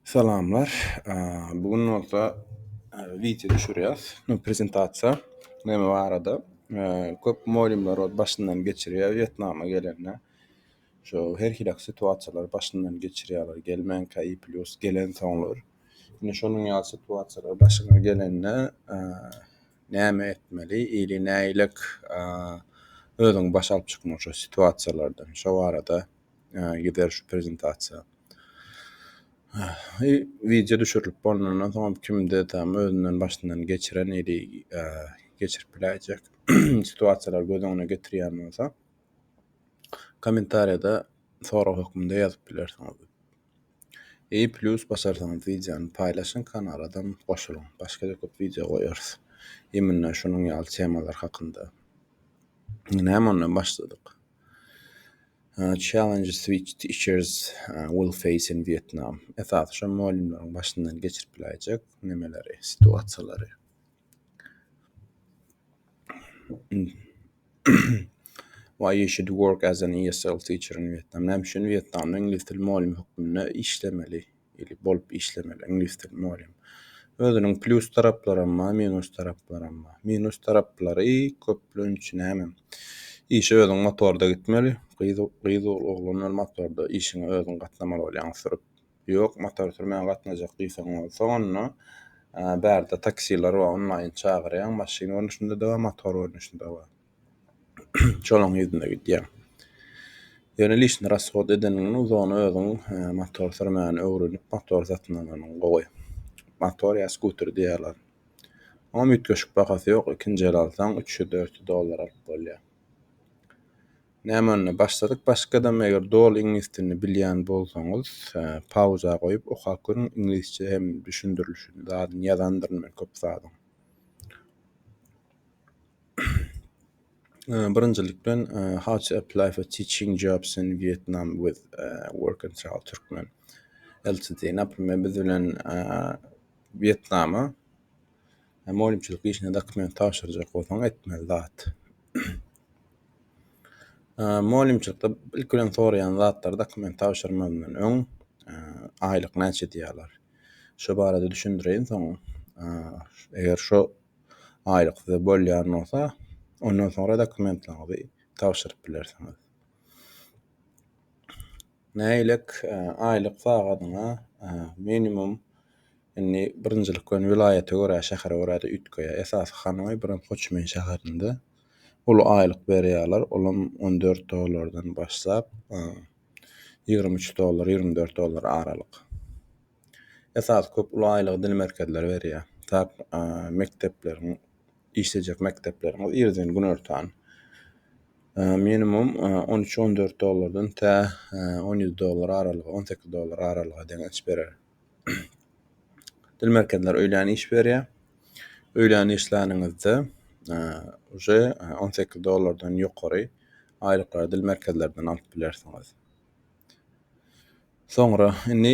Salamlar. Bu gün bolsa wideo düşürýäs. Prezentasiýa näme barada? Köp mugallymlar ol başyndan geçirýär Wýetnama gelende. Şo her hili situasiýalary başyndan geçirýärler, gelmänkä i plius gelensoňlar. Ine şonuň ýaly situasiýalar başyňa gelende näme etmeli ili nägilek özüňi başa alyp çykmaly şo situasiýalardan? Şo barada. Ýa gider şu prezentasiýa. Ýa wideo düşürilip bolandan soňam kimde tam özünden başyndan geçiren ýeri geçirip biläýjek situasiýalary göz öňüne getirýän bolsa kommentariýada sorag hökmünde ýazyp bilersiňiz. Ýa plýus basarsyňyz wideony paýlaşyň kanaladam goşulyň. Başga-da köp wideo goýarys. Imенно şunuň ýaly temalar hakynda. Näme ondan başladyk. Challenge switch teachers will face in Vietnam. Esasy şo mugallymlaryň başyndan geçirip biläýjek nemeleri, situasiýalary. Why you should work as an ESL teacher in Vietnam. Näme üçin Wýetnamda iňlis dili mugallymy hökmünde işlemeli? ili bolup işlemeli, iňlis dili mugallym. Özüniň plýus taraplaram bar, minus taraplaram bar. Minus taraplary köplenç näme? Işe özüň motorda gitmeli, gyz gyz oglan bilen motorda işiňe özüň gatnamaly bolýaň sürüp. Ýok, motor sürmän gatnajak diýseň bolsa, onda bärde taksiler bar, onlaýyn çagyrýaň, maşyn görnüşinde-de bar, motor görnüşinde-de bar. Şolaň yzyna gidýär. Ýöne lişni rashod edeniňden uzagynda özüň motor sürmäni öwrenip motor satyn alanyň gowy. Motor ýa skuter diýýär olar. Oňam üýtgeşik bahasy ýok, ikinji el alsaň üç ýüz dört ýüz dollar alyp bolýar. Näme onda başladyk başgadam eger doly iňlis dilini bilýän bolsaňyz pauza goýup okap görüň iňlisçe hem düşündirilişini zadyny ýazandyryn men köp zadyň. Ee, birinjilik bilen, ee, how to apply for teaching jobs in Vietnam with ee, work and travel Turkmen LTD. Naprimýr, biz bilen ee, Wýetnama ee, mugallymçylyk işine dokument tabşyrjak bolsaň etmeli zat. Ee, mugallymçylykda ilki bilen soraýan zatlary dokument tabşyrmazdan öň, ee, aýlyk näçe diýýärler. Şo barada düşündireýin soň, ee, eger şo aýlyksyz bolýan bolsa, ondan soňra dokumentlaryňyzy tabşyryp bilersiňiz. Nägilek aýlyk sagadyňa minimum indi birinjilik bilen welaýata görä, şähere görä-de üýtgeýär. Esasy Hanoý, bilen Hoçmin şäherinde uly aýlyk berýärler. Olam on dört dollardan başlap, ýigrimi üç dollar, ýigrimi dört dollar aralyk. esasy köp uly aýlygy dil merkezleri berýär. Tar mekdepleriň işlejek mekdepleriň irden günortan minimum 13-14 dollardan tä 17 dollar aralygy, 18 dollar aralygy deň iş berer. Dil merkezleri öýlän iş berýär. Öýlän işläningizde уже 18 dollardan ýokary aýlyklary dil merkezlerinden alyp bilersiňiz. Soňra, indi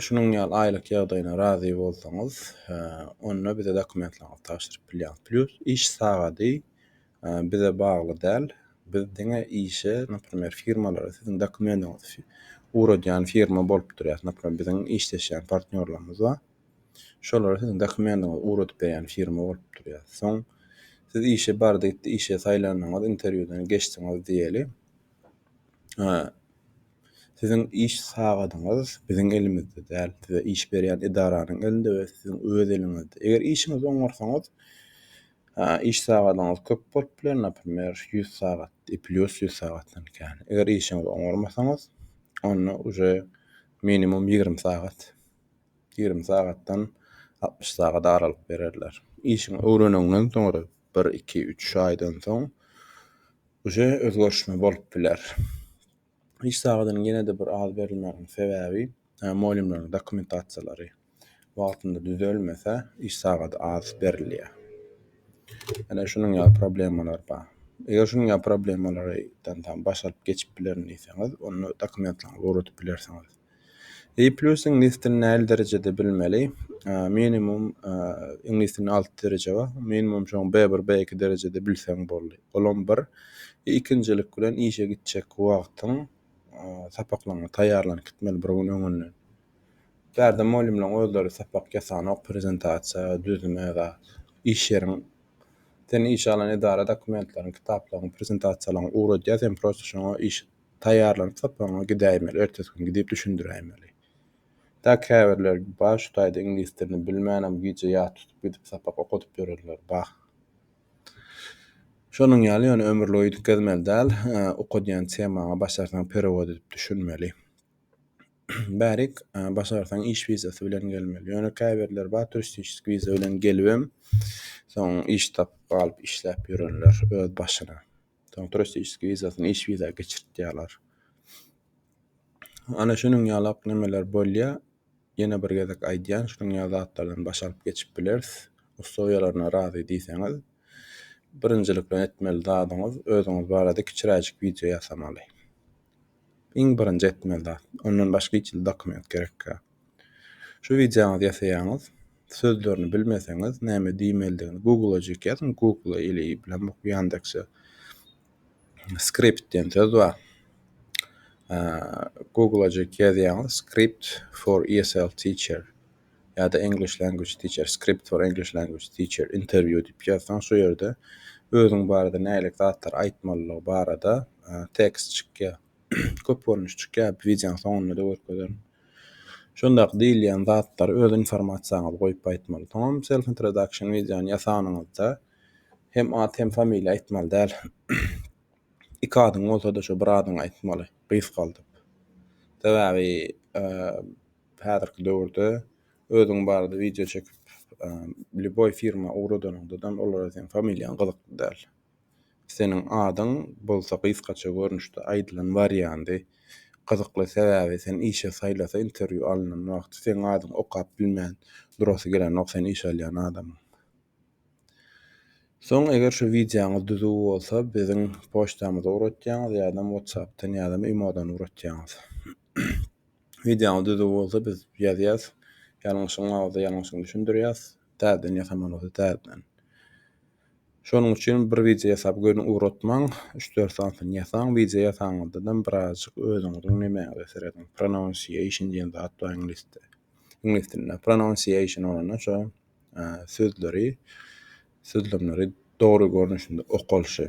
şunuň ýaly aýlyk ýagdaýyna razy bolsaňyz, onda bize dokumentlaryňyzy tabşyryp bilýäňiz. Plýus iş sagady bize bagly däl. Biz diňe işe, naprimer, firmalara siziň dokumendiňizi ugradýan firma bolup durýas. Naprimer, biziň işleşýän partnýorlarymyz bar. Şolara siziň dokumendiňizi ugradyp berýän firma bolup durýas. Soň siz işe bardy gitdi, işe saýlandyňyz, interwýudan geçdiňiz diýeli. Siziň iş sagadyňyz biziň elimizde däl, size iş berýän edaranyň elinde we siziň öz eliňizde. Eger işiňizi oňarsaňyz, iş sagadyňyz köp bolup biler, naprimýr, ýüz sagat, plýus ýüz sagatdan kän. Eger işiňizi oňarmasaňyz, onda uje minimum ýigrimi sagat, ýigrimi sagatdan altmyş sagat aralyk bererler. Işiňi öwreneniňden soňra bir, iki, üç aýdan soň uje özgerişme bolup biler. Iş sagadynyň ýene-de bir az berilmeginiň sebäbi, molýumlaryň dokumentasiýalary wagtynda düzelmese, iş sagady az berilýär. Ýöne şunuň ýaly problemalar bar. Eger şunuň ýaly problemalardan baş alyp geçip bilerin diýseňiz, onda dokumentlaryňyzy ugradyp bilersiňiz. E plus iňlis dilini näli derejede bilmeli? Minimum iňlis dilini 6 dereje bar. Minimum şoň B1, B2 derejede bilseň boldy. Olam bir. E, ikinjilik bilen işe gitjek wagtyň sapaklaryňa taýýarlanyp gitmeli bir gün öňünden. Bärde mugallymlaryň özleri sapak ýasanok, prezentasiýa, düzme ýa iş ýeriň seni işe alan edara dokumentleriň, kitaplaryň, prezentasiýalaryň ugradýar, sen prosta şoňa iş Taýýarlanyp sapagyňa gidäýmeli, ertesi gün gidip düşündiräýmeli. Dak käbirleri bar şu taýda iňlis dilini bilmänam gije ýat tutup gidip sapak okadyp ýörenler bar. Şonuň ýaly ýöne ömürlik üýtgezmeli däl, okadýan temaňa başarsaň perewod edip düşünmeli. Bärik başarsaň iş wizasy bilen gelmeli. Ýöne käbirleri bar turistişiski wiza bilen gelibem soň iş tapyp galyp işläp ýörenler öz başyna. Soň turistiki wizasyny iş wiza geçirtýärler. Ana şunuň ýalak nemeler bolýar. Ýene bir gezek aýdýan şunuň ýaly zatlardan baş alyp geçip bileris. Ussowiýalaryna razy diýseňiz birinjilik bilen etmeli zadyňyz özüňiz barada kiçiräjik wideo ýasamaly. Iň birinji etmeli zat. Ondan başga hiç hili dokument gerekýär. Şu wideoňyzy ýasaýaňyz, sözlerini bilmeseňiz, näme diýmelidigini Google-ajyk ýazyň, Google ili bilen bu Ýandekse skript diýen söz bar. Google-ajyk ýazýaňyz, script for ESL teacher ýa-da English language teacher, script for English language teacher interview diýip ýazsaň, şu ýerde özüň barada nälik zatlar aýtmalydygy barada tekst çykýar. köp görnüş çykýar, wideonyň soňunda-da görkezerin. Şondaky diýilýän zatlary öz informasiýaňyzy goýup aýtmaly. Soňam self introduction wideony ýasanyňyzda hem at hem familiýa aýtmaly däl. Iki adyň bolsa-da şu bir adyňy aýtmaly, gysgaldyp. Sebäbi häzirki döwürde özüň barada wideo çekip, lýuboý firma ugradanyňda olara seniň familiýaň gyzykly däl. Seniň adyň bolsa gysgaça görnüşde aýdylan wariandy. Gyzykly sebäbi sen işe saýlasa interwýu alnan wagty seň adyň okap bilmän durasy gelenok sen iş alýan adamyň. Soň eger şu wideoňyz düzüw bolsa biziň poçtamyza ugratýaňyz ýadam whatsappdan ýadam imodan ugratýaňyz. Wideoňyz düzüw bolsa biz ýazýas ýalňyşyň bolsa ýalňyşyny düşündirýas täzeden ýasaman bolsa täzeden. Şonuň üçin bir wideo ýasap göni ugratmaň, üç-dört sanysyny ýasaň, wideo ýasanňyzdanam birazajyk özüňiziň nemäňize serediň, pronounciation diýen zat bar iňlisde, iňlis dilinde pronounciation bolanda şo sözleri, sözlemleri dogry görnüşinde okalyşy.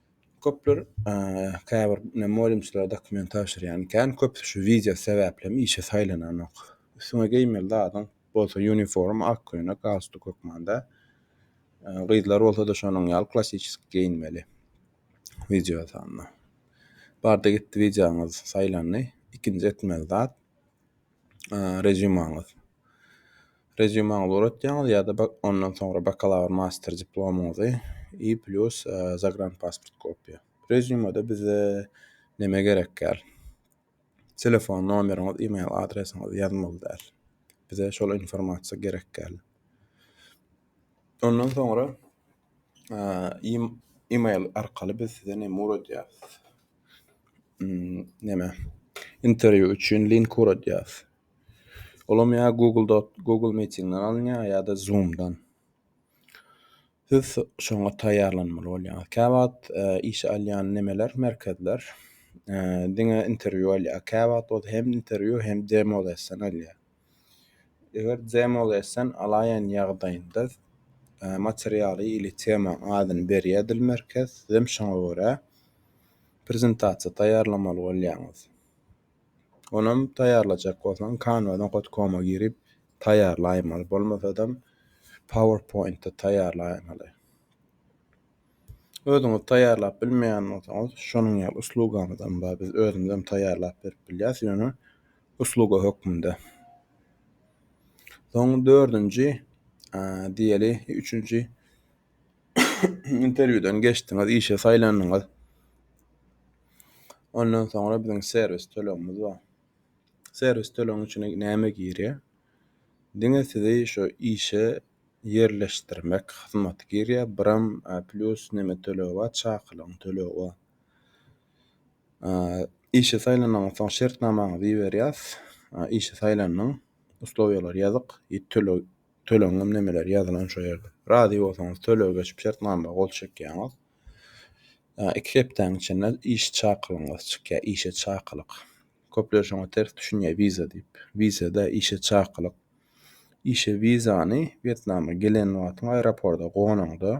Köpler käbir molumçylara dokument tabşyrýan ikän, köpüsi şu wiza sebäplem işe saýlananok. Üstüňe geýmeli zadyň bolsa uniform, ak köýnek, galstuk hökmanda. Gyzlar bolsa-da şonuň ýaly klassisik geýinmeli. Wideo sanna. Bardy gitdi wizaňyz saýlandy. Ikinji etmeli zat rezýumaňyz. Reziumaňyzy gurutýaňyz ýa-da bak ondan soňra bakalawr, master diplomyňyzy i plýus zagranpasport kopiýa. Reziumada bize näme gerekýär? Telefon nomeriňiz, e-mail adresiňizi ýazmaly däl. Bize şol informasiýa gerekýär. Ondan soňra e, im- e-mail arkaly biz size näme gurutýarys? Hmm, näme? Interwýu üçin link gurutýarys. Olam ýa Google dot Google Meetingden alynýar ýa-da Zoomdan. Siz şoňa taýýarlanmaly bolýaňyz. Käwagt e, işe alýan nemeler, merkezler e, diňe interwýu alýar. Käwagt bolsa hem interwýu hem demo lesson alýar. Eger demo lesson alaýan ýagdaýynda e, materialy ili temaň adyny berýär dil merkez, siz hem şoňa görä prezentasiýa taýýarlamaly bolýaňyz. Onam taýýarlajak bolsaň Canva nokta com-a girip taýýarlaýmaly. Bolmasadam PowerPoint-de taýýarlaýmaly. Özüňiz taýýarlap bilmeýän bolsaňyz, şonuň ýaly uslugamyz hem bar. Biz özümiz hem taýýarlap berip bilýäs, ýöne usluga hökmünde. Soň dördünji, e, diýeli, üçünji interwýudan geçdiňiz, işe saýlandyňyz. Ondan soňra biziň serwis tölegimiz bar. Serwis tölegiň içine näme girýär? Diňe sizi şu işe ýerleşdirmek hyzmaty girýär. Biram e, plýus näme tölegi bar? Çakylygyň tölegi bar. E, Işe saýlanandan soň şertnamaňyzy iberýäs. E, Işe saýlandyň. Uslowiýalar ýazyk. E, Töleg tölegiňem nemeler ýazylan şo ýerde. Razy bolsaňyz tölege geçip şertnama gol çekýäňiz. Iki hepdäň içinde iş çakylygyňyz çykýar, işe çakylyk. Köpler şoňa ters düşünýär wiza diýip. Wiza da işe çakylyk. Işe wizany Wýetnama gelen wagtyň aeroporta gonaňda,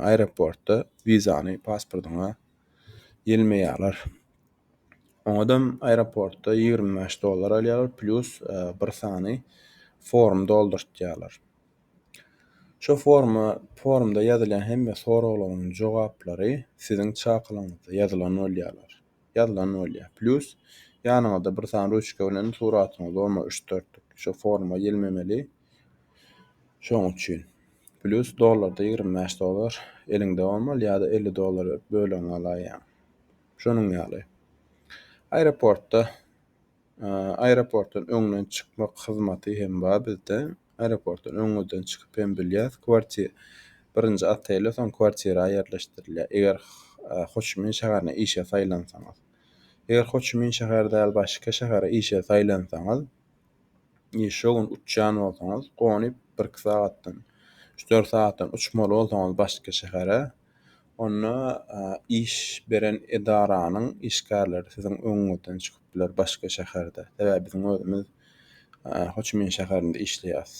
aeroportda wizany pasportyňa ýelmeýärler. Oňadam aeroportda 25 dollar alýarlar, plýus bir sany form doldurtýarlar. Şu forma forumda ýazylýan hemme soraglaryň jogaplary siziň çakylygyňyzda ýazylan bolýarlar. Ýazylan bolýar. Plus ýanyňyzda bir sany ruçka bilen suratyňyzy bolmasa üç dörtlük şu foruma ýelmemeli. Şoň üçin plus dollarda ýigrimi bäş dollar eliňde bolmaly ýa-da elli dollar berip bölegiňi alaýýaň. Şonuň ýaly. Aeroportda Aeroportdan öňden çykmak hyzmaty hem bar bizde. Aeroportdan öňden çykyp hem bilýäs. Kwartir birinji otele, soň kwartira ýerleşdirilýär. Eger Hoçimin şäherine işe saýlansaňyz. Eger Hoçimin şäheri däl başga şähere işe saýlansaňyz, e, şo gün uçýan bolsaňyz, gonyp bir-iki sagatdan, üç-dört sagatdan uçmaly bolsaňyz başga şähere, Onda iş beren edaranyň işgärleri siziň öňüňizden çykyp biler başga şäherde. Sebäbi biziň özümiz Hoçimin şäherinde işleýäs.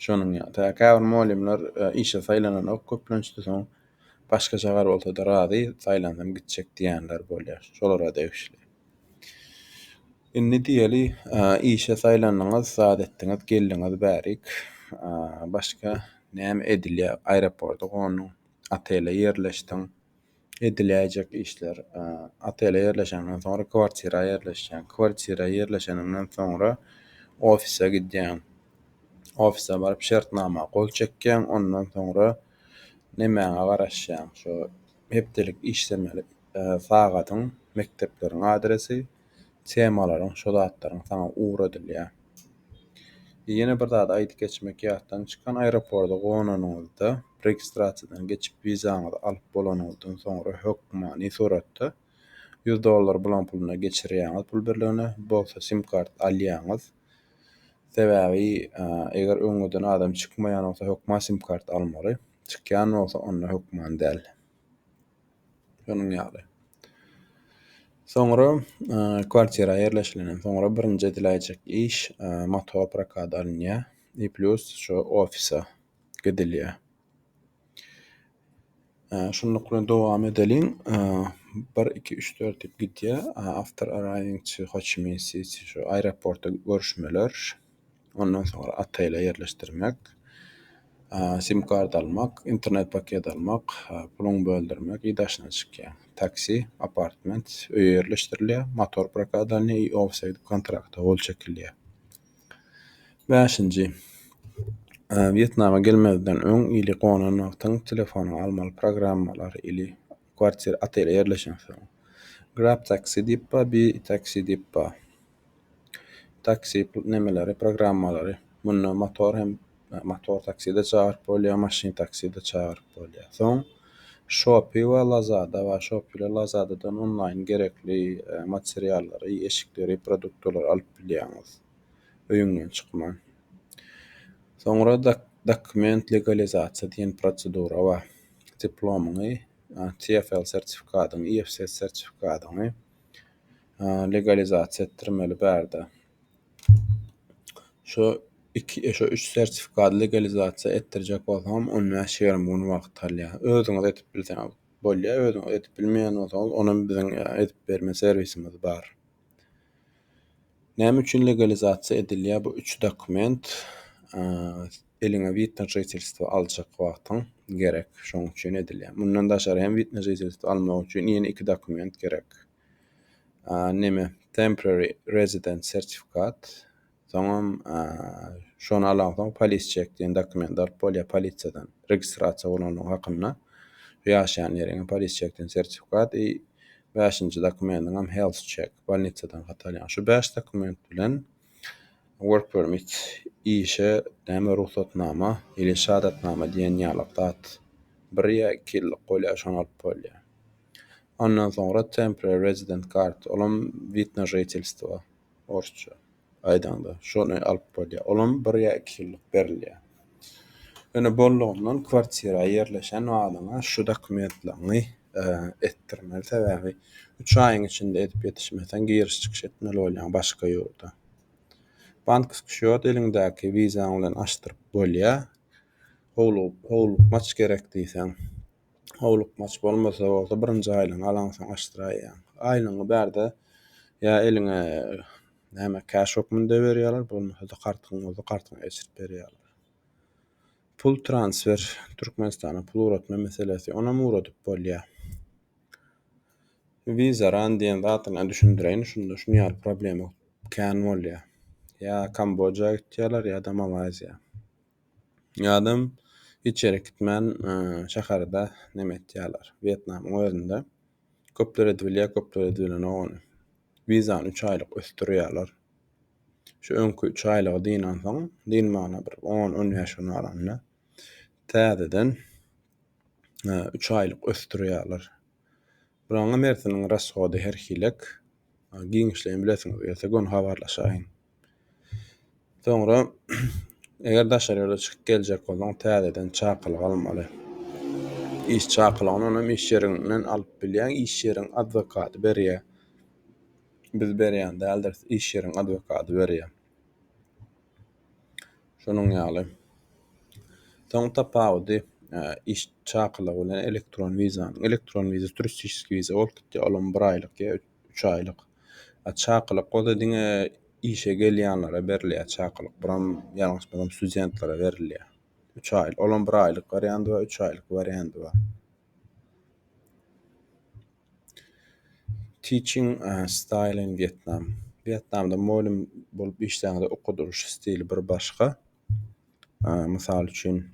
Şonuň ýaly. Käbir mugallymlar işe saýlananok, köplençde soň başga şäher bolsa-da razy, saýlansam gitjek diýenler bolýar. Şolara degişli. Indi diýeli, işe saýlandyňyz, zat etdiňiz, geldiňiz bärik. Başga näme edilýär? Aeroporta gonduň, otele ýerleşdiň. Ediläýjek işler, otele ýerleşeňden soň, kwartira ýerleşýäň. Kwartira ýerleşeniňden soňra, ofise gidýäň. Ofise baryp, şertnama gol çekýäň. Ondan soňra, nemäňe garaşýaň? Şu hepdelik işlemeli. sagadyň, mekdepleriň adresi, temalaryň, şo zatlaryň saňa ugradylýar. Ýene bir zady aýdyp geçmek ýatdan çykan, aeroporda gonanyňyzda, registrasiýadan geçip wizaňyzy alyp bolanyňyzdan soňra hökmany suratda ýüz dollar bulan puluna geçirýäňiz pul birligine, bolsa sim kart alýaňyz. Sebäbi eger öňüden adam çykmaýan bolsa hökman sim kart almaly. Çykýan bolsa onda hökman däl. Şonuň ýaly. Soňra kwartira ýerleşilenden soňra birinji ediläýjek iş motor prokady alynýar. I plus şu ofise gidilýär. Şunluk bilen dowam edeliň. 1 2 3 4 diýip gidýär. After arriving to Ho Chi Minh City şu aeroportda görüşmeler. Ondan soňra Ataýla ýerleşdirmek, sim kart almak, internet paket almak, puluň böldürmek i daşyna çykýar. Taksi, apartment, öýe ýerleşdirilýär, motor prokady alynýar i ofsaýd kontrakta gol çekilýär. Bäşinji, Wýetnama gelmezden öň ili gonan wagtyň telefonyňy almaly programmalar ili kwartira, otel ýerleşensoň. Grabtaksi diýip bar, bi taksi diýip bar. Taksi nemeleri, programmalary. Munda motor hem motor takside çagyryp bolýar, maşyn takside çagyryp bolýar. Soň Shopee we Lazada bar. Shopee we Lazadadan onlaýn gerekli e, materiallary, eşikleri, produktlary alyp bilýäňiz. Öýüňden çykman. Soňra dok- dokument legalizasiýa diýen prosedura bar. Diplomyňy, a, TFL sertifikadyňy, IFS sertifikadyňy, legalizasiýa etdirmeli bärde. Şu iki, e, şu üç sertifikady legalizasiýa etdirjek bolsaňam, on bäş, ýigrimi gün wagt alýar. Özüňiz edip bilseňiz bolýar, özüňiz edip bilmeýän bolsaňyz, onam biziň e, edip berme serwisimiz bar. Näme üçin legalizasiýa edilýär bu üç dokument? Eliňe wid na žitelstwo aljak wagtyň gerek, şoň üçin edilýär. Mundan daşary hem wid na žitelstwo almak üçin ýene iki dokument gerek. Näme? Temporary resident sertifikat. Soňam şony alansoň polis çek diýen dokument alyp bolýar polisiýadan. Registrasiýa bolandygyň hakynda ýaşaýan ýeriňe polis çekden sertifikat. Bäşinji dokumeniňem health check, bolnisadan hat alýaň. Şu bäş dokument bilen work permit, işe näme rugsatnama ili şahadatnama diýen ýalak zat bir ýa iki ýyllyk bolýar, şony alyp bolýar. Ondan soňra temporary resident card, olam wid na žitelstwo, orsça. aýdaňda, şony alyp bolýar. Olam bir ýa iki ýyllyk berilýär. Ýöne bollugyndan kwartira ýerleşen wagyňa şu dokumentlaryňy etdirmeli, sebäbi üç aýyň içinde edip ýetişmeseň giriş-çykyş etmeli bolýaň başga ýurda. Bankisk şýot eliňdäki wizaň bilen açdyryp bolýar. Howluk, howlukmaç gerek diýseň. howlukmaç bolmasa bolsa birinji aýlygyňy alaňsoň açdyraýýaň. Aýlygyňy bärde ýa eliňe näme cash hökmünde berýärler, bolmasa-da kartyň bolsa kartyňa geçirip berýärler. Pul transfer, Türkmenistana pul ugratma meselesi, onam ugradyp bolýar. Visa ran diýen zadyny düşündireýin, şunda şuny ýaly problema kän bolýar. Ýa Kamboja gitýärler ýa-da Malaýziýa. Ýadam hiç ýere gitmän şäherde neme etýärler. Wýetnamyň özünde köpler edibilýär, köpler edibilenok ony. Wizany üç aýlyk ösdürýärler. Şu öňki üç aýlygy dynansoň, dynmagyna bir on-on bäş gün galanda täzeden üç aýlyk ösdürýärler. Buraňa Mertiniň rasgody herhilek. Giňişleýin bilesiňiz gelse göni habarlaşaýyň. Soňra eger daşary ýurda çykyp geljek bolsaň, täzeden çakylyk almaly. Iş çakylygyny onuň iş ýeriňden alyp bilýäň, iş ýeriň adwokaty berýär. Biz berýän däldiris, iş ýeriň adwokaty berýär. Şonuň ýaly. Soň tapawudy iş çakylygy bilen elektron wizanyň. Elektron wiza, turistiski wiza bolup gitýär. Olam bir aýlyk ýa Üç aýlyk. A çakylyk bolsa diňe işe gelýänlere berilýär çakylyk. Buram ýalňyş bolsam studentlere berilýär. Üç aýlyk. Olam bir aýlyk warianty bar, üç aýlyk warianty bar. Teaching uh, style in Vietnam. Vietnamda mugallym bolup işlände okudylyş stili bir başga. Uh, mysal üçin,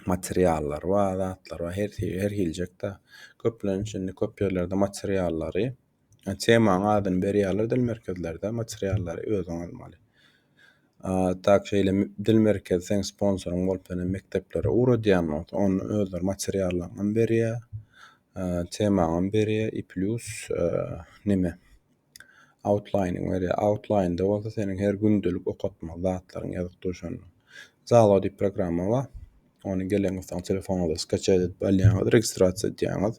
materiallar bar, zatlar bar. Her şey, her hiljek-de. Köplenç indi köp ýerlerde materiallary, e, temaň adyny berýärler dil merkezlerde, materiallary özüň almaly. A, tak şeýle m- dil merkezi seň sponsoryň bolup, ýöne mekdeplere ugradýan bolsa, onda özleri materiallaňam berýär, e, temaňam berýär i plýus, e, neme, Outline-yňy berýär. Outline-da bolsa seniň her gündelik okatmaly zatlaryň ýazyp dur şonda. Zalo diýip programma bar. Ony geleňizsoň telefonuňyza skaçat edip alýaňyz, registrasiýa edýäňiz.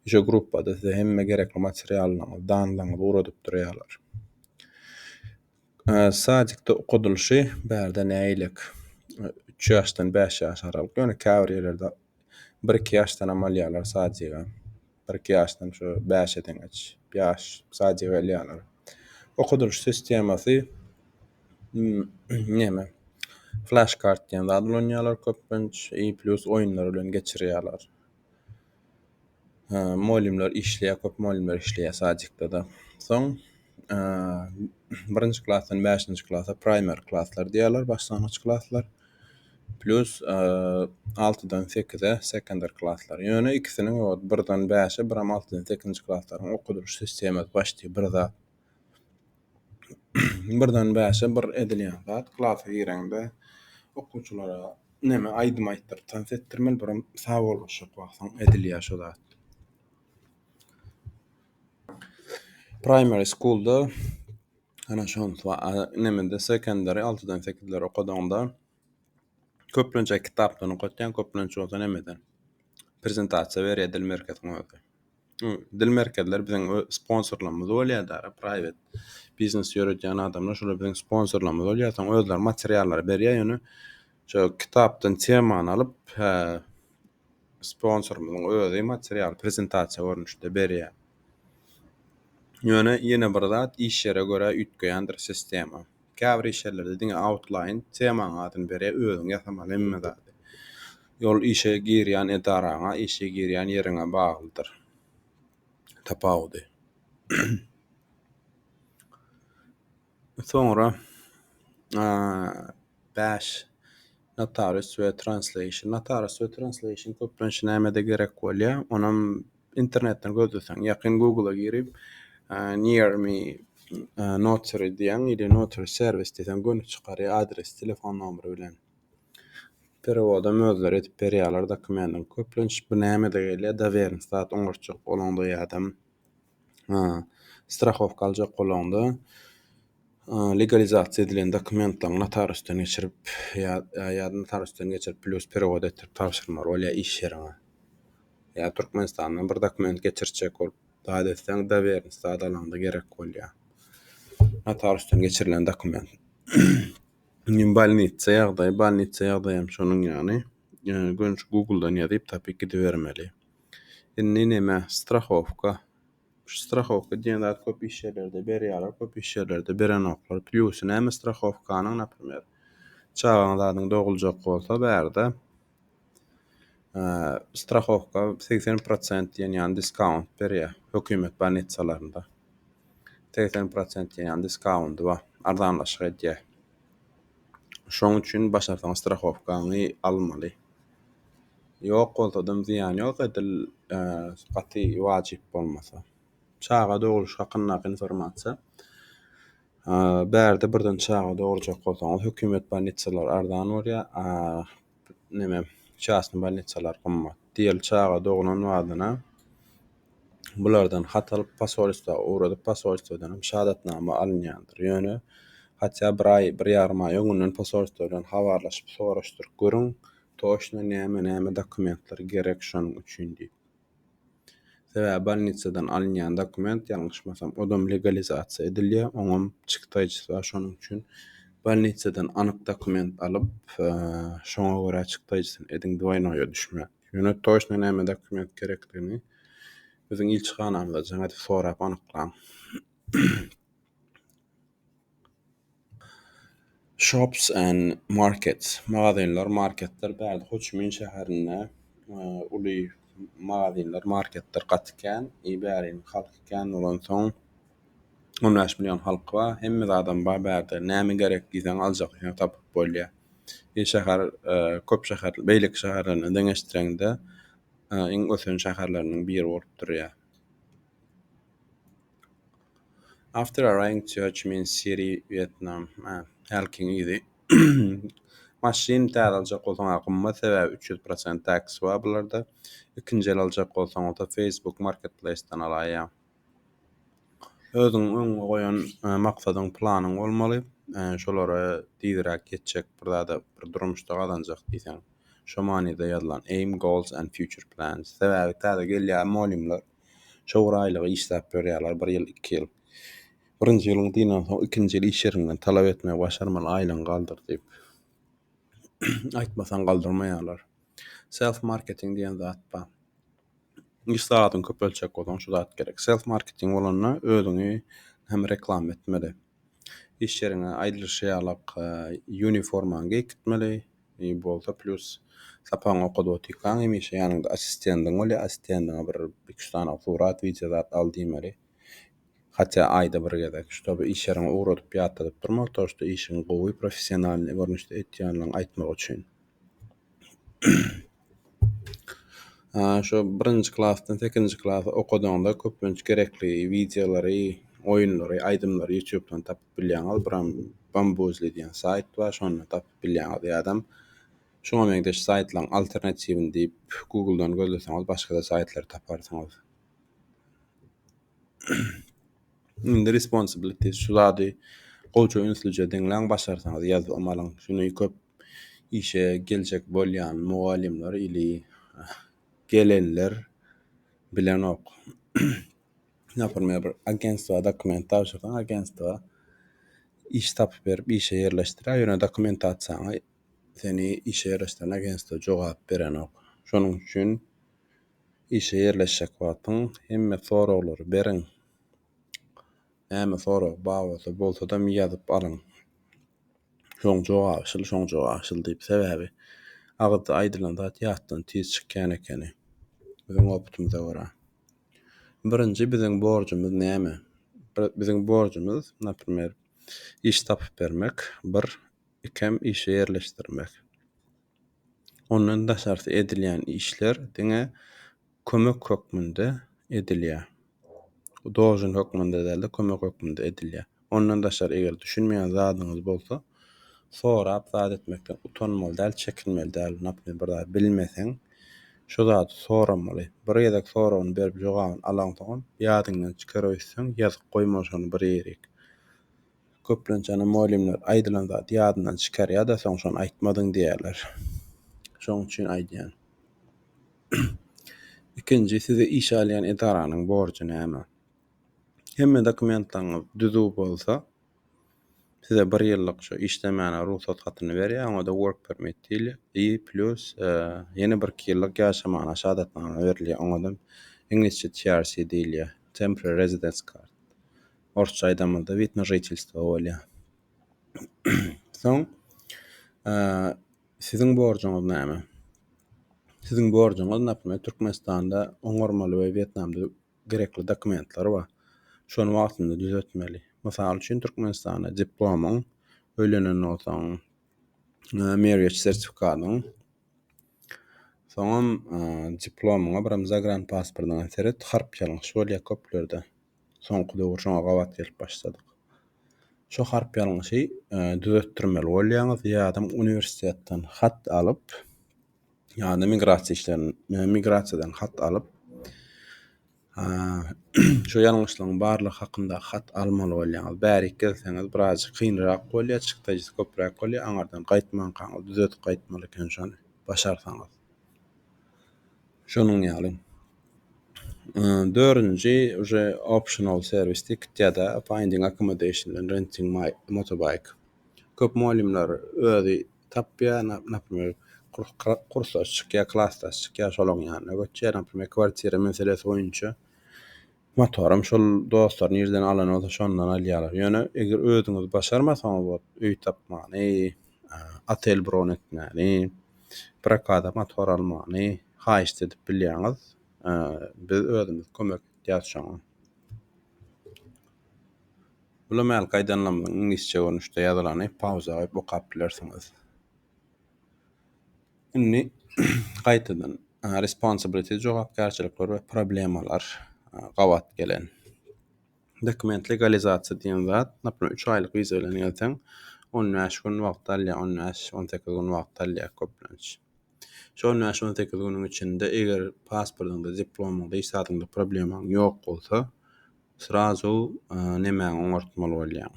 Şu gruppada size hemme gerekli materiallaryňyzy, danlaryňyzy ugradyp durýarlar. Ee, Sadikde okadylyşy bärde nägilek? Üç ýaşdan bäş ýaş aralyk. Ýöne käbir ýerlerde bir-iki ýaşdanam alýarlar sadiga. kyrk ýaşdan şu bäşe deňeç ýaş sadja gelýärler. Okudylyş sistemasy näme? Flash kart diýen zat ulanýarlar köplenç, i plus oýunlar bilen geçirýärler. Molimler işleýär, köp molimler işleýär sadjikde-de. Soň birinji klasdan bäşinji klasa primer klaslar diýýärler, başlangyç klaslar. Plus altydan sekize sekonder klaslar. Ýöne ikisiniň ýok, birden bäşe, biram altydan sekizinji klaslaryň okadylyş sistemasy başdy bir zat. Birden bäşe bir edilýän zat, klasa gireňde okuwçylara neme aýdym aýtdyryp tans etdirmeli, biram sawollaşyk wagtyň edilýär şu zat. Primary schoolda ana şonsi wa a nemede secondary altydan sekizlere okadygyňda köplenç kitapdan okatýaň köplenç bolsa nemeden prezentasiýa berýär dil merkeziň özi Iň dil merkezleri biziň ö sponsorlarymyz bolýada private biznes ýöredýän adamlar şolar biziň sponsorlarymyz bolýa soň özleri materiallary berýä ýöne şo kitapdan temany alyp hä sponsorymyzyň özi materialy prezentasiýa görnüşde berýär. Ýöne ýene bir zat iş ýere görä üýtgeýändir sistema. Käbir iş ýerlerde diňe outline temaň adyny berýär, özüň ýasamaly hemme zady. Ýol işe girýän edaraňa, işe girýän ýeriňe baglydyr tapawudy. Soňra bäş notarius we translation. Notarius we translation köplenç nämede gerek bolýar? Onam internetden gözleseň, ýakyn Google-a girip, near me notary diýen ýa-da notary serwis diýseň göni çykarýar adres, telefon nomeri bilen. Perewodam özleri edip berýärler dokumendiň. Köplenç bu nämede gelýär? Doweriň stat oňartjak bolanda ýa-da Ha, strahowka aljak bolaňda, legalizasiýa edilen dokumentleri notariusdan geçirip, ýa, ýa notariusdan geçirip, plus perewod etdirip tabşyrmaly bolýar iş ýeriňe. Ýa Türkmenistandan bir dokument geçirtjek bolup, zat etseň, dowerniki zat alaňda gerek bolýar. Notariusdan geçirilen dokument. Indi bolnitsa ýagdaýy, bolnitsa ýagdaýy hem şonuň ýaly. Ýöne görnüşi Google-dan ýazyp tapyp gidibermeli. Indi näme strahowka. Şu strahowka diýen zat köp iş ýerlerde berýärler, köp iş ýerlerde berenoklar. Plýusy näme strahowkanyň, naprimýer, çagaň zadyň doguljak bolsa bärde strahowka segsen prosent diýen ýaly diskount berýär hökümet bolnitsalarynda. Segsen prosent diýen ýaly diskounty bar, arzanlaşyk edýär. Şoň üçin başarsaň strahowkaňy almaly. Ýok bolsadam zyýany ýok edil gaty wajyp bolmasa. Çaga dogluş hakyndaky informasiýa. Bärde birden çaga dogurjak bolsaňyz hökümet bolnitsalar arzan bolýar. Neme çastny bolnitsalar gymmat. Diýeli çaga doglan badyna bulardan hat alyp posolstwa ugradyp posolstwadanam şadatnama alynýandyr ýöne hatýa bir aý bir ýarym aý öňünden posolstwa bilen habarlaşyp soraşdyryp görüň toşna näme näme dokumentler gerek şonuň üçin diýip sebäbi bolnitsadan alynýan dokument ýalňyşmasam odam legalizasiýa edilýär oňam çykdaýjysy bar şonuň üçin bolnitsadan anyk dokument alyp şoňa görä çykdaýjysyny ediň dwoýnoýa düşme. Ýöne toýşna näme dokument gerekligini biziň ilçihanamyza jaň edip sorap anyklaň. Shops and markets. Magazynlar, marketler bärde Ho Çi Min şäherinde uly magazynlar, marketler gaty kän. I bäriň halky kän bolansoň on bäş million halky bar. Hemme zadam bar bärde. Näme gerek diýseň aljak ýa tapyp bolýar. Bir şäher köp şäher, beýleki şäherler bilen deňeşdireňde iň ösen şäherleriniň biri bolup durýar. After a rain to Ho Chi Minh City, Vietnam. Hälkiň yzy. Maşyn täze aljak bolsaň gymmat, sebäbi üç ýüz prosent tax bar bularda. Ikinji el aljak bolsaň bolsa Facebook Marketplace-den alaýýaň. Özüň öňe goýan maksadyň, planyň bolmaly. Şolara tizräk ýetjek bir zada, bir durmuşda gazanjak diýseň, şo manyda ýazylan Aim goals and future plans. Sebäbi täze gelýän mugallymlar şo bir aýlygy işläp ýörýärler, bir ýyl, iki ýyl. Birinji ýylyň dyndan soň, ikinji ýyl iş ýeriňden talap etmegi başarmaly, aýlygyňy galdyr diýip. Aýtmasaň galdyrmaýarlar. Self marketing diýen zat bar. iş sagatyňy köpeltjek bolsaň şu zat gerek. Self marketing bolanda özüňi hem reklama etmeli. Iş ýeriňe aýdylyşy ýalak e, uniformaňy geýip gitmeli. E, bolsa plus sapagyňy okadyp otyrkaň hemişe ýanyňda assistendiň bolýar. Assistendiňe bir iki üç sany surat, wideo zat al diýmeli. Hatda aýda bir gezek. Şutoby iş ýeriňe ugradyp ýatladyp durmaly. Toşda işiňi gowy, professionalnyý görnüşde etýänligiňi aýtmak üçin. Şu birinji klasdan sekizinji klasa okadanda köplenç gerekli wideolary, oýunlary, aýdymlary ýutubdan tapyp bilýäňiz. Buram Bambuzel diýen saýt bar, şondan tapyp bilýäňiz ýa-da şuňa meňzeş saýtlaryň alternatiwini diýip Google-dan gözleseňiz başga-da saýtlary taparsyňyz. Indi responsibility şu zady gowça ünslije diňläň başarsaňyz ýazgym alyň şuny köp işe geljek bolýan mugallymlar ili gelenler bilenok naprmer bir agentstwa dokument tabşyrsaň agentstwa iş tapyp berip işe ýerleşdirýär ýöne dokument atsaňa seni işe ýerleşdiren agentstwa jogap berenok şonuň üçin Işe ýerleşjek wagtyň hemme soraglary beriň. Näme sorag babatda bolsadam ýazyp alyň. Şoň jogaby şyl, şoň jogaby şyl diýip. Sebäbi agyzda aýdylan zat ýatdan tiz çykýan ekeni. Biziň opytymyza görä. Birinji biziň borjumyz näme? Biziň borjumyz, naprimer, iş tapyp bermek, bir, ikem işe ýerleşdirmek. Ondan daşarsy edilýän işler diňe kömek hökmünde edilýär. Dojun hökmünde däl-de kömek hökmünde edilýär. Ondan daşary eger düşünmeýän zadyňyz bolsa, sorap zat etmekden utanmaly däl, çekinmeli däl. Naprimýer bir zat bilmeseň, şo zady soramaly. Bir gezek soragyny berip jogabyny alaňsoňam ýadyňdan çykaryp öýtseň ýazyp goýma şony bir ýerik. Köplenç ene mugallymlar aýdylan zady ýadyndan çykarýar-da, soň şony aýtmadyň diýýärler. Şoň üçin aýdýan. Ikinji, sizi işe alýan edaranyň borjy näme? Hemme dokumentlaryňyz düzüw bolsa, size bir ýyllyk şu işlemäne rugsat hatyny berýär, oňa-da work permit diýilýär. I plus, ýene bir iki ýyllyk ýaşamaga şahadatnama berilýär, oňa-da iňlisçe TRC diýilýär, temporary residence card. Orsça aýdamyzda wid na žitelstwo bolýar. Soň siziň borjuňyz näme? Siziň borjuňyz, naprimýer, Türkmenistanda oňarmaly we Wýetnamda gerekli dokumentler bar. Şony wagtynda düzetmeli. Mysal üçin, Türkmenistanda diplomyň, öýlenen bolsaň, marriage sertifikatyň, soňam diplomyňa, biram zagranpasportyňa seret, harp ýalňyş bolýar köplerde. Soňky döwür şoňa gabat gelip başladyk. Şu harp ýalňyşy e, düzetdirmeli bolýaňyz ýadam uniwersitetden hat alyp ýa-da migrasiýa işlerini e, migrasiýadan hat alyp şu ýalňyşlygyň barlygy hakynda hat almaly bolýaňyz. Bärik gelseňiz biraz kynrak bolýar, çykdajysy köpräk bolýar. Aňardan gaýtmankaňyz düzedip gaýtmaly eken şony başarsaňyz. Şonuň ýaly. Dördünji uje optional serwis ticket ýa-da finding accommodation bilen renting my motorbike. Köp mugallymlar özi tapýar, naprimýr, kursdaş çykýar, klasdaş çykýar, şolaň ýanyna göçýär, naprimýr, kwartira meselesi boýunça. Motorym şol dostlar nirden alany bolsa şondan alýarlar. Ýöne eger özüňiz başarmasaňyz ot öý tapmany, otel bron etmäni, prokata motor almany haýyşt edip bilýäňiz. Biz özümiz kömek etýäs şoňa. Bula mäl gaýdanlamyň iňlisçe görnüşde ýazylany pauza goýup okap bilersiňiz. Indi gaýtadan responsibility jogapkärçilikler we problemalar gabat gelen. Dokument legalizasiýa diýen zat, naprimr, üç aýlyk wiza bilen gelseň, on bäş gün wagt alýar, on bäş, on sekiz gün wagt alýar köplenç. Şu on bäş, on sekiz günüň içinde eger pasportyňda, diplomyňda, iş zadyňda problemaň ýok bolsa, srazu e, nemäňi oňartmaly bolýaň.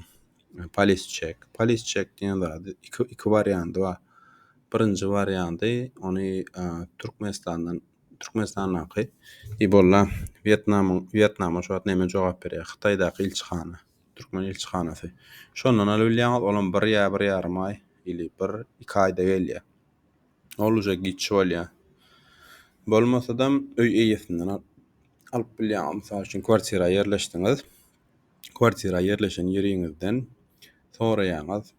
E, Polis çek. Polis çek diýen zady iki, iki warianty bar. Birinji warianty, ony e, Türkmenistandan Türkmenistandaky Ibolla Wýetnamyň Wýetnamyň şu wagt näme jogap berýär? Hytaýdaky ilçihana, türkmen ilçihanasy. Şondan alyp bilýäňiz, olam bir ýa bir ýarym aý ili bir iki aýda gelýär. Ol uje giç bolýar. Bolmasadam öý eýesinden alyp bilýäňiz. Mysal üçin kwartira ýerleşdiňiz. Kwartira ýerleşen ýeriňizden soraýaňyz.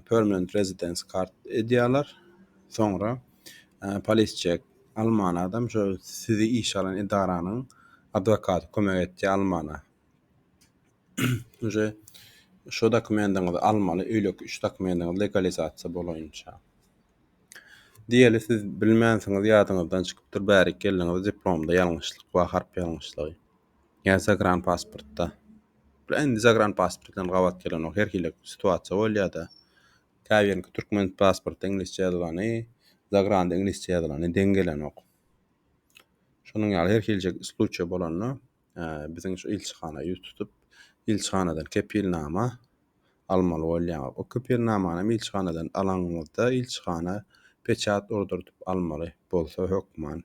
permanent residence kart edýärler. Soňra polis çek alman adam şo sizi işe alan edaranyň adwokaty kömek etýär almana. Uje şu dokumendiňizi almaly, öýleki üç dokumendiňiz legalizasiýa bolança. Diýeli siz bilmänsiňiz ýadyňyzdan çykypdyr bärik geldiňiz diplomda ýalňyşlyk bar harp ýalňyşlygy. Ýa zagranipasportda. Bula indi zagranipasport bilen gabat gelenok. Her hili situasiýa bolýar-da. Käbiriniňki türkmen pasportda iňlisçe ýazylany, zagranda iňlisçe ýazylany deň gelenok. Şonuň ýaly her hilje sluçiýa bolanda, biziň şu ilçihana ýüz tutup, ilçihanadan kepilnama almaly bolýar. O kepilnamany hem ilçihanadan alanyňyzda ilçihana peçat urduryp almaly bolsa hökman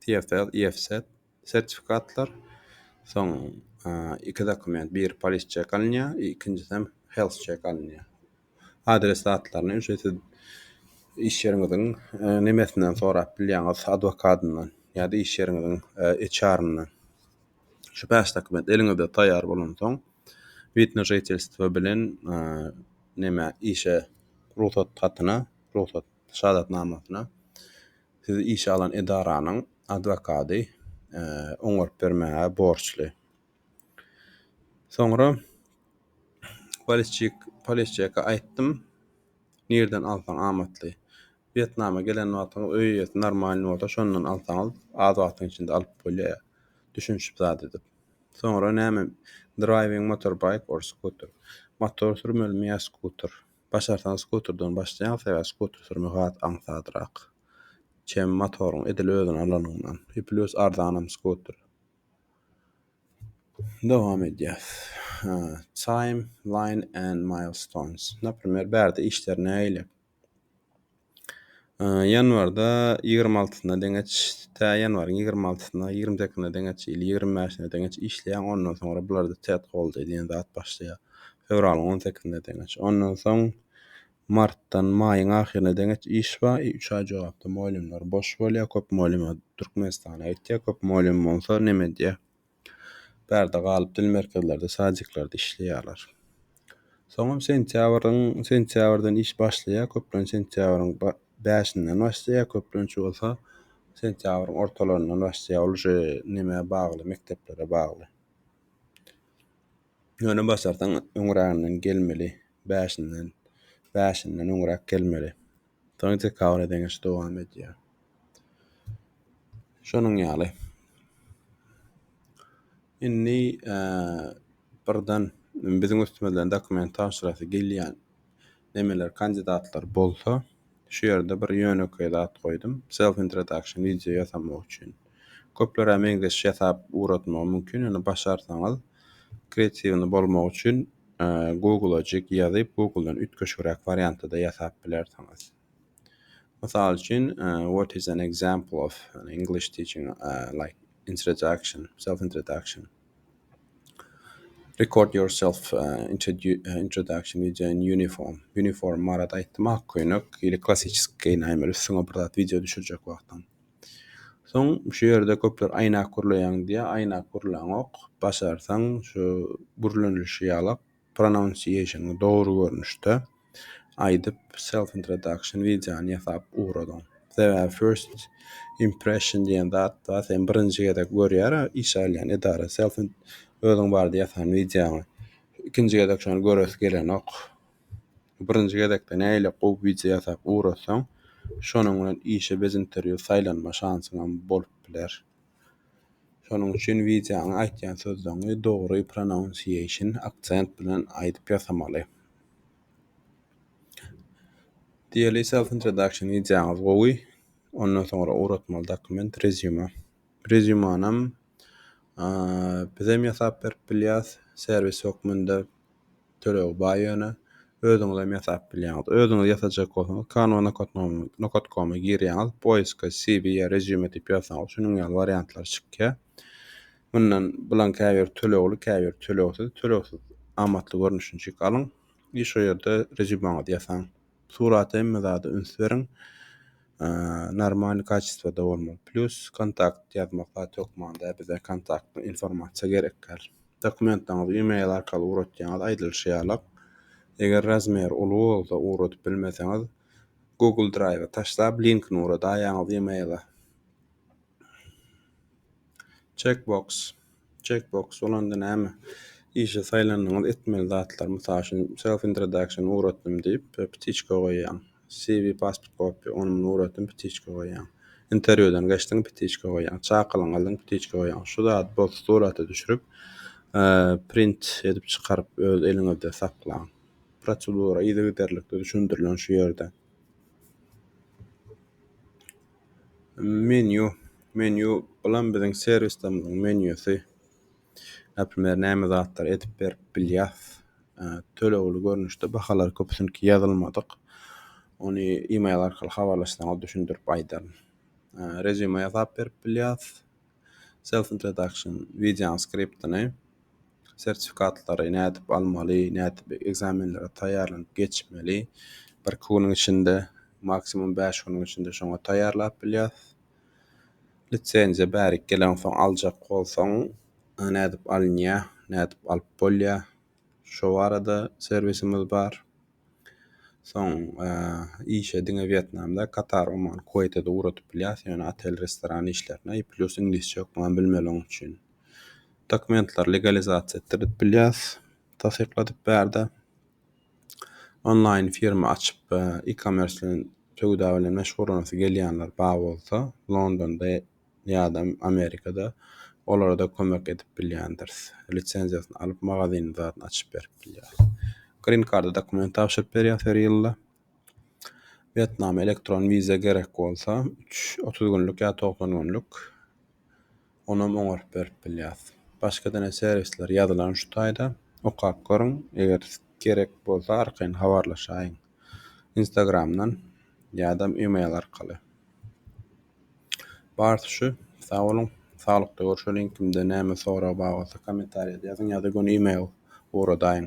TFL, IFSET, sertifikatlar, soň iki dokument, biri polis çek alynýar, ikinjisi hem health çek alynýar. Adres zatlaryny ýöne siz iş ýeriňiziň e, nemesinden sorap bilýäňiz, adwokatyndan ýa-da iş ýeriňiziň e, HR-yndan. Şu bäş dokument eliňizde taýýar bolansoň, wid na žitelstwo bilen e, näme işe rugsat hatyna, rugsat şahadatnamasyna Sizi işe alan edaranyň adwokady oňaryp bermäge borçly. Soňra Waliçik Paleşçeka aýtdym, nirden alsaň amatly. Wýetnama gelen wagtyňyz öý eýesi normalny bolsa şondan alsaňyz az wagtyň içinde alyp bolýar. Düşünişip zat edip. Soňra näme driving motorbike or scooter. Motor sürmelimi ýa skuter. Başarsaň skuterden başlaýaň sebäbi skuter sürmek has aňsadrak. Çem motoryň edil özüni alanyňdan. E plus arzanam skuter. Dowam edýäs. Time, line and milestones. Naprimer, bärde işler nähili? Ýanwarda ýigrimi altysyna deňeç, tä ýanwaryň ýigrimi altysyna, ýigrimi sekiziňe deňeç, ýyl ýigrimi bäşine deňeç işleýäň, ondan soňra bularda tet goldaý diýen zat başlaýar. Fewralyň on sekizine deňeç. Ondan soň martdan maýyň ahyryna deňeç iş bar, e, üç aý jogapda mugallymlar boş bolýar, köp mugallyma Türkmenistana gitýär, köp mugallym bolsa neme edýär? Bärde galyp dil merkezlerde, sadiklerde işleýärler. Soňam sentýabryň sentýabrdan iş başlaýar, köplenç sentýabryň bäşinden başlaýar, köplenç bolsa sentýabryň ortalaryndan başlaýar. Ol şe nämä bagly, mekdeplere bagly. Ýöne başarsaň öňräginden gelmeli, bäşinden, bäşinden öňräk gelmeli. Soň dekabra deňeş dowam edýär. Şonuň ýaly. Indi birden biziň üstümizden dokument tabşyrasy gelýän nemeler kandidatlar bolsa, şu ýerde bir ýönekeý zat goýdum. Self introduction wideo ýasamak üçin. Köplere meňzeş ýasap ugratmagy mümkin, ýöne başarsaňyz kreatiwny bolmagy üçin Google-ajyk ýazyp Google-dan üýtgeşigräk wariantda-da ýasap bilersiňiz. Mysal üçin what is an example of an English teaching like introduction, self introduction. Record yourself introduction with an uniform. Uniform barada aýtdym ak köýnek, ýeli klassisik geýinäýmeli üstüňe bir zat wideo düşürjek wagtyň. Soň şu ýerde köpler aýnak gurlaýaň diýýär, aýnak gurlaňok. Başarsaň şu gürlenilişi ýaly pronunciation-y dogry görnüşde aýdyp self introduction wideony ýasap ugradyň. Sebäbi first impression diýen zat bar, seni birinji gezek görýär iş alýan edara self özüň barada ýasan wideoňy. Ikinji gezek şony göresi gelenok. Birinji gezekde nägile gowy wideo ýasap ugrasaň, şonuň bilen işe bez interwýu saýlanma şansyňam bolup biler. Şonuň üçin wideoňa aýtýan sözleňi dogry prononsiýeýşn, aksent bilen aýdyp ýasamaly. Diýeli self introduction wideoňyz gowy. Ondan soňra ugratmaly dokument rezýuma. Rezýumanam bizem ýasap berip bilýäs, serwis hökmünde töleg bar ýöne özüňizem ýasap bilýäňiz. Özüňiz ýasajak bolsaňyz Canva Nokotkom-a girýäňiz, poiska CV ýa resume diýip ýazsaňyz şunuň ýaly wariantlar çykýar. Mundan bulan käbir tölegli, käbir tölegsiz, tölegsiz amatly görnüşini çek alyň i şo ýerde resumeňizi ýasaň. Surata hemme zada üns beriň. Normalny kaçestwada bolmaly. Plus kontakt ýazmak zat hökmanda bize kontakt informasiýa gerek däl. Dokumentlaryňyzy e-mail arkaly ugratýaňyz aýdylyşy ýaly. Eger razmer uly bolsa ugradyp bilmeseňiz Google Drive-a taşlap linkini ugradaýaňyz e-mail-a. Checkbox. Checkbox bolanda näme? Işe saýlandyňyz etmeli zatlar, mysal üçin self introduction ugratdym diýip, ptiçka goýýaň. CV pasport kopýa, ony muny ugratdym ptiçka goýýaň. Interwýudan geçdiň ptiçka goýýaň. Çakylygyňy aldyň ptiçka goýýaň. Şu zady bol surata düşürip, print edip çykaryp öz eliňizde saklaň. Prosedura yzygiderlikde düşündirilen şu ýerde. Menýu. Menýu bulam biziň serwislerimiziň menýusy. Näprimýär, näme zatlar edip berip bilýäs. E, tölegli görnüşde bahalar köpüsinki ýazylmadyk. Ony e-mail arkaly habarlaşsaňyz düşündirip aýdaryn. E, Resume ýasap berip bilýäs. Self introduction, wideonyň skriptini. sertifikatlary nädip almaly, nädip ekzamenlere taýýarlanyp geçmeli. Birki günüň içinde, maksimum bäş günüň içinde şoňa taýýarlap bilýäs. Lisenziýa bärik gelensoň aljak bolsaň, e, nädip alynýar, nädip alyp bolýar, şo barada serwisimiz bar. Soň işe diňe Wýetnam däl, Katar, Oman, Kuweýte-de ugradyp bilýäs, ýöne otel, restoran işlerine, i plýus iňlisçe hökman bilmeli oň üçin. Dokumentlary legalizasiýa etdirip bilýäs, tassykladyp bärde. Onlaýn firma açyp, e-commerce bilen, söwda bilen meşgullanasy gelýänler bar bolsa, Londonda ýa-da Amerikada olara-da kömek edip bilýändiris. Lisenziýasyny alyp, magazynyň zadyny açyp berip bilýäris. Green Card-a dokument tabşyryp berýäs her ýylda. Wýetnama elektron wiza gerek bolsa, üç, otuz günlük ýa togsan günlük onam oňaryp berip bilýäris. Başga dene serwisler ýazylan şu taýda. Okap görüň, eger gerek bolsa arkaýyn habarlaşaýyň. Instagram-dan ýa-da email arkaly. Barsi şu. Sag boluň. Saglykda görşeliň kimde näme sorag bar bolsa komentariýada ýazyň ýa-da göni email ugradaýyň.